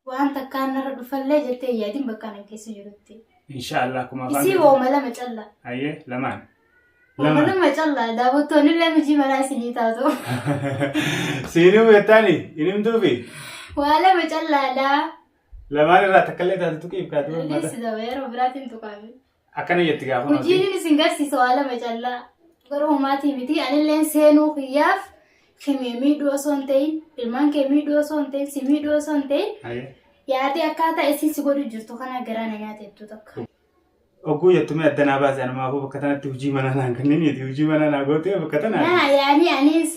Waan takkaan narra dhufallee jettee hin yaadin bakka anan keessa jirutti. Insha Allah akkuma afaan Isii keetiin- wooma lama callaa. Hayyee lamaan. Wooma Lamaan. lama callaa daawwattoonni illee mijii manaa isinii taatu. Siinuu beektaani hin himtuufi Waa lama callaadhaa. lamaan irraa takka illee taatu tuqiif kaatu uummata. Dhiyeessi daba yeroo biraatiin tuqaame. Akkana jetti gaafa nuti. Hojiin isin garsiisu waa lama callaa. Garuu homaatii miti anilleen seenuu kiyyaaf himee miidhuu osoo hin ta'in ilmaan kee miidhuu osoo hin ta'in si miidhuu osoo hin ta'in Aye. yaadee akkaataa isin si godhu jirtu kana garaa na nyaate jettu tokko. Ogguu jettumee adda naa baase anumaafuu bakka tanatti hojii manaa naan kanneen miti hojii manaa naa gootee bakka tanaa. Naa yaanii anis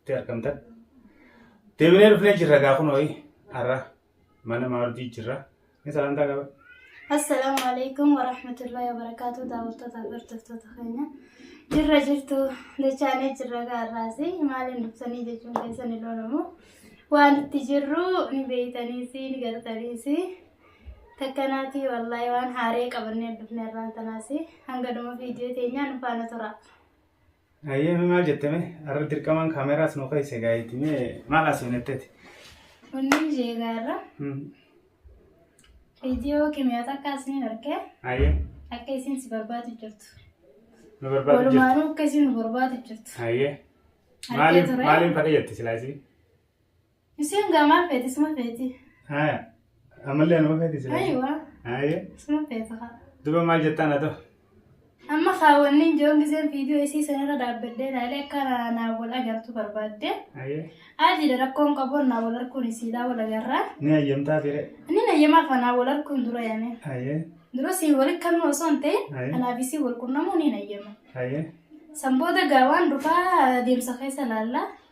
itti argamtan. Deebinee dhufnee jirra gaa kun ho'i har'a mana maardii jirra. Ni salaamtaa qaba. Assalaamu alaikum wa rahmatullahi wa barakaatu daawwattoota fi hordoftoota keenya. Jirra jirtu dachaanee jirra gaarraas maaliin dhuftanii jechuun keessan ni loolamu. Waan itti jirru ni beeytaniis ni gartaniis. Takkanaatii wallaahi waan haaree qabannee dhufne irraan tanaas hanga dhuma viidiyoo teenyaa nu faana tura. Ayyee mi maal jette mee? Arra dirqamaan kaameraas nu keessa gaayiti mee maal asiin jetteti? Wanni ishee gaarra viidiyoo kimiyaa takka asiin argee Ayyee akka isiin si barbaadu jirtu. nu barbaadu jirti. Walumaanuu akka isiin nu barbaadu jirtu. Ayyee Argee maaliin ture. maaliin fadha jette silaa isii? Isiin gaa maal feeti isuma feeti. Haya. Ammallee anuma feeti jira. Ayiwa Haya. isuma feeta haa. Duba maal jettaan haa ta'u? Amma kaawwanniin joon giseen viidiyoo isii sanarra dhaabbadhee ilaalee akka na- naa wal agartu barbaadde. Haya. Aadiidha rakkoon qabu naa wal arguun isiidhaa wal agarraa. Ni hayyamtaa fire. Inni nayyamaa fanaa wal arguun dura yaane. Haya. Dura siin wal hikkannoo osoo hin ta'in Aye. anaaf isii wal qunnamuu ni nayyama. Haya. San booda gaa waan dhufaa deemsa keessa ilaalla.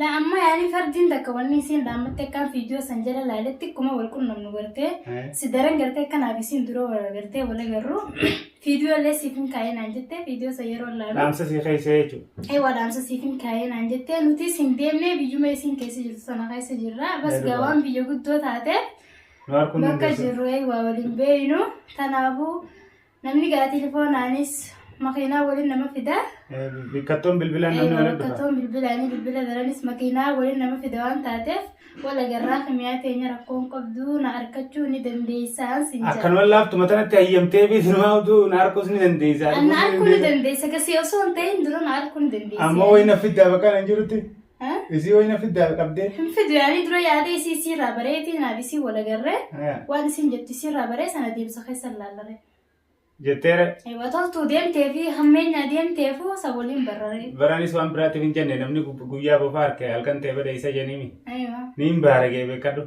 La amma yaani fardiin takka wanni isiin dhaammatte akkaan fiidiyoo san jala laaletti akkuma wal qunnamnu gartee Eh. si daran gartee kanaaf isiin dura wal gartee wal agarru fiidiyoo illee siif hin kaa'ee naan jettee fiidiyoo san yeroo laalu Dhaamsa sii keessee jechuudha. ee waa dhaamsa siif hin kaa'ee naan jettee nutis hin deemnee biyyuma isiin keessa jirtu sana keessa jirra bas Eeguudha. gawaan biyya guddoo taate Nu arguu hin bakka dandeessu. jirru ee waa waliin beeynu kanaafuu Namni gaa telefoonaanis makiinaa waliin nama fida. Bikkattoon bilbilaan namni waliin dhufa. Bikkattoon bilbilaanii bilbila biranis makiinaa waliin nama fida waan taateef wal agarraa kimiyaa teenya rakkoon qabdu na arkachuu ni dandeessaan sin jedha. Akkanuma laaftuma tanatti hayyamtee fi sinumaa utuu na arkuus ni dandeessa. Anna arkuu ni dandeessa. Gasii osoo hin ta'in dura na arkuu ni dandeessa. Ammoo wayii na fiddaa bakka nan jirutti. Ha? Isii wayina fiddaa qabdee. Hin fidu yaanii dura yaadee isii isii irraa bareetii naaf isii wal agarree Eh, waan isiin jettu isii irraa baree sana deebisa keessa hin laallaree. Jetteere Ewa toltuu deemtee fi hammeenyaa deemteefu isa waliin barraree. baranis waan biraatiif hin jenne namni gub- guyyaa bofaa harke halkan ta'e bada isa jenimi. Ewa. Niin baaragee beekadhu.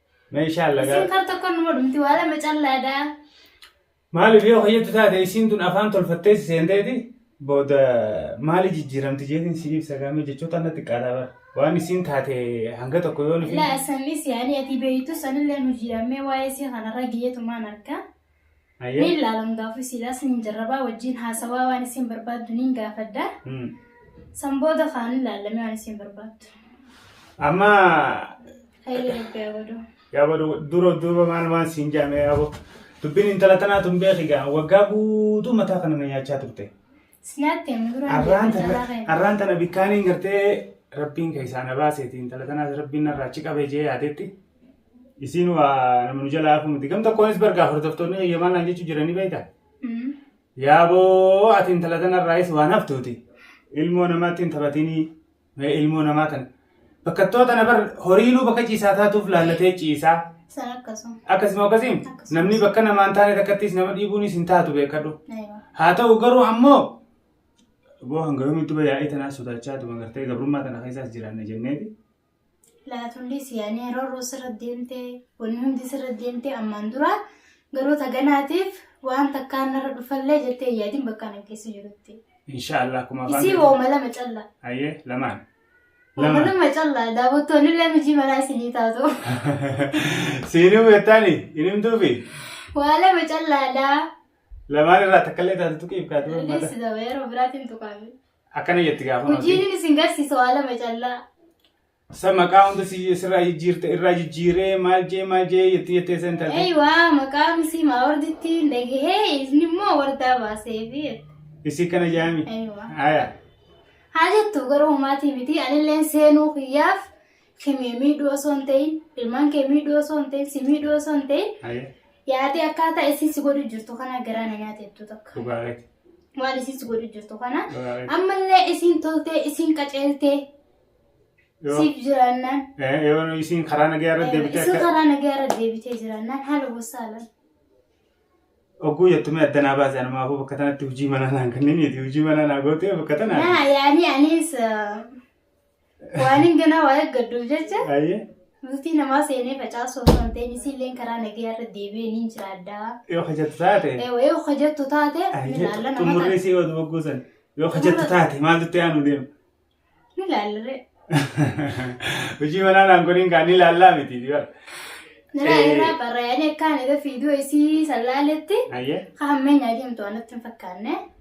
Mee insha Allah Isin gaa. kar tokko numa dhumti waa lama callaadha. Maaliif yoo hoyyattu taate isiin tun afaan tolfattee si seenteeti booda maali jijjiiramti jeetiin si ibsa gaamee jechoota anna xiqqaataa bara. Waan isiin taate hanga tokko yoo nufi. Ilaa sanis yaani ati beeytu sanillee nu jiramee waa'ee si kanarra geetumaan harka. Ayyee. Ni ilaalan gaafii siilaa sin jarrabaa wajjin haasawaa waan isin barbaaddu niin gaafadha. Hmm. San booda kaan ilaalame waan isin barbaaddu. Amma Hayilee rabbi haa godhu. yaaba du- dura duuba maal waan siin jaame yaabo. Dubbiin intala tanaa tun beeki gaa waggaa guutuu mataa kana na nyaachaa turte. Sinaatti himi dura Arraan hin tana jedhu. arraan tana bikkaaniin gartee rabbiin keessaa na baaseeti intala tanaas rabbiin narraa achi qabee jee yaadetti. Isiin waa nama nu jalaa hafu miti. Gam tokkoonis bargaa hordoftoonni eeyyamaa naan jechuu jiranii beekta. Yaaboo ati intala tanarraayis waan haftuuti. Ilmoo namaatti hin taphatinii. Mee ilmoo namaa tan. Bakkattoota tana bar horiinuu bakka ciisaa taatuuf laallatee ciisaa. San akkasuma. Akkasuma akkasiin Akkasuma. namni bakka namaan taane takkattis nama dhiibuunis hin taatu beekadhu. Aywa. Haa ta'u garuu ammoo boo hanga yoomitti bayyaa'ee tanaa sodaachaa tuma gartee gabrummaa tana keessaas jiraanna jenneeti. laatulli siyaanii yeroo roos irra deemtee wanni hundi sirra deemtee ammaan dura garuu taganaatiif waan takkaan narra dhufallee jettee hin yaadin bakka ana keessa jirutti. Inshaallah akkuma afaan Isii keetiin- wooma lama callaa. Hayyee lamaan. Wooma Lamaan. lama callaa daawwattoonni illee mijii manaa isinii taatu. Siinuu beektaani hin himtuufi Waa lama callaadhaa. lamaan irraa takkallee taatu tuqiif kaatu uummata. Leessi daba yeroo biraatiin tuqaame. Akkana jetti gaafa nuti. Hojiin isin garsiisu waa lama callaa. Sa maqaa hunda si sirraa jijjiirte irraa jijjiiree maal jee maal jee jetti jettee san taate. Eywa maqaan isii maa warditti hin dhagahee isni immoo wardaa baasee fi Isii kana jaami. Eywa. Haya. Haa jettu garuu maatii miti anilleen seenuu kiyyaaf Kee miidhuu osoo hin ta'in ilmaan kee miidhuu osoo hin ta'in si miidhuu osoo hin ta'in Aye. yaadee akkaataa isin si godhu jirtu kana garaa na nyaate jettu takka. Dhugaa keeti. Waan isin si godhu jirtu kana Dhugaa keeti. ammallee isin toltee isin qaceeltee Yoo- siif jiraannaan Eh, Yoo isiin karaa nagaa irra deebitee isin akka karaa nagaa irra deebitee jiraannaan haala gosaadhaan. oguu jettumee adda naa baase anumaafuu bakka tanatti hojii manaa naan kanniniiti hojii manaa naa gootee bakka tanaa. Naa yaanii anis eh, Waaniin ganaa waa eeggadduuf jecha Ayyee. bultii namaa seenee facaasuu osoo hin ta'in isiilleen karaa nagayaa irra deebi'ee niin jiraadhaa. Yoo hojjettu taate. Eewee hojjettu taate ni laalla nama Xumurri taate. isii oduu bogguusan. Yoo hojjettu taate maaltu itti aanu deema? Ni laallaree. Hojii manaa naan godhin kaa ni laallaa miti dibara. Ni laallaree barraayanii akkaan egaa fiiduu isii sallaaletti Ayyee. hammeenyaa deemtu waan natti hin fakkaanne.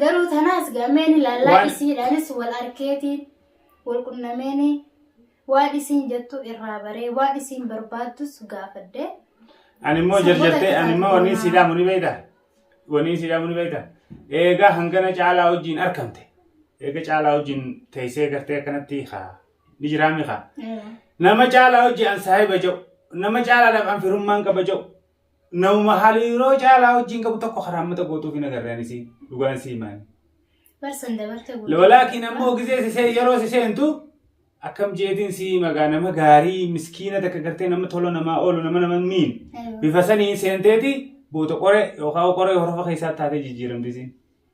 Garuu tanaas gameen ilaalaa Waan- isiidhaanis wal arkeeti wal qunnameeni waan isiin jettu irraa baree waan isiin barbaaddus gaafadhe. Ani immoo Saboota jarjartee ani immoo wanni kisaaf siidhaamu ni beeyta. Wanni siidhaamu ni beeyta. Eegaa hangana caalaa wajjin arkamte. Eega caalaa wajjin teessee gartee akkanatti haa ni jiraami haa. Eh, Nama caalaa wajjin an saahiba ja'u. Nama caalaadhaaf an firummaan qaba ja'u. Nama hariiroo caalaa wajjin qabu tokko karaa mata gootuuf hin agarreen isii dhugaan sii maali. Barsan dabarte guutuu. Lolaakiin ammoo gizee sisee yeroo siseentu akkam jeetiin sii magaa nama gaarii miskiina takka gartee nama tola namaa oolu nama nama miin Aywa. bifa sanii seenteeti boota qore yookaan qore horofa keessaa taatee jijjiiramti isiin.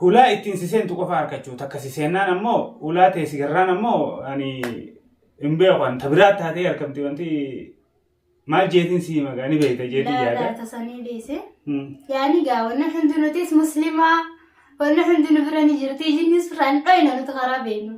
Hulaa ittiin si seentu qofa harkachuu takka si seennaan ammoo hulaa tee si garraan ammoo ani hin beeku an ta biraa taatee argamti wanti maal jeetiin si hima gaa ni beekta jeetii Laa yaada. laata sanii beese. Hmm. Yaani gaa wanna hundi nutis muslimaa wanna hundi nu bira ni jirti jinni surraan dhoyna nuti karaa beenu.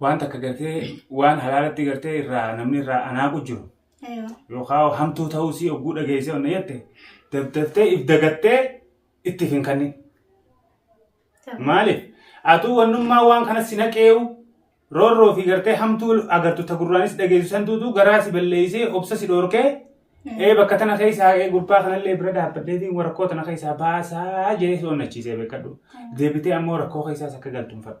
waan takka gartee waan halaalatti gartee irraa namni irraa anaaqu jiru Eewa. yookaan hamtuu ta'uu sii ogguu dhageessee onna jette dabdaftee if dagattee ittiif hin kannin. Maaliif? Atuu wannummaa waan kana si naqeewu roorroo fi gartee hamtuu agartu ta gurraanis dhageessu santuutu garaa si balleessee obsa si dhoorkee ee bakka tana keessaa ee gurbaa kanallee bira dhaabbadheetiin rakkoo tana keessaa baasaa jee si onnachiisee beekadhu. Deebitee ammoo rakkoo keessaas akka galtu hin fedhu.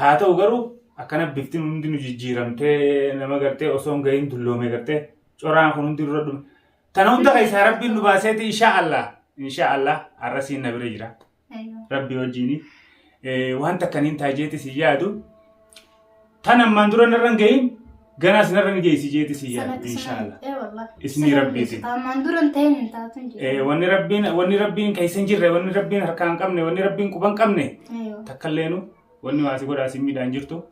Haa ta'u garuu akkana bifti hundi nu jijjiiramtee nama gartee osoo hin gahin dulloomee gartee coraan kun hundi dura dhume. Tana hunda keessaa rabbiin nu baaseeti inshaa Allah inshaa Allah arrasiin na bira jira rabbi wajjini waan takkaniin taajeeti si yaadu tan ammaan dura narra hin gahin Ganaa sinarra ni geessi jeeti si yaadu Sanatti inshaalla. sanatti. Eh, wallah. Isni Sanatti rabbiitiin. geessita. Ammaan dura hin ta'in hin taatu hin Eh, jedhu. Wanni rabbiin wanni rabbiin keessa hin jirre wanni rabbiin harkaa hin qabne wanni rabbiin quba hin qabne Eeyyo. takkalleenu wanni waasi godhaa si miidhaan jirtu.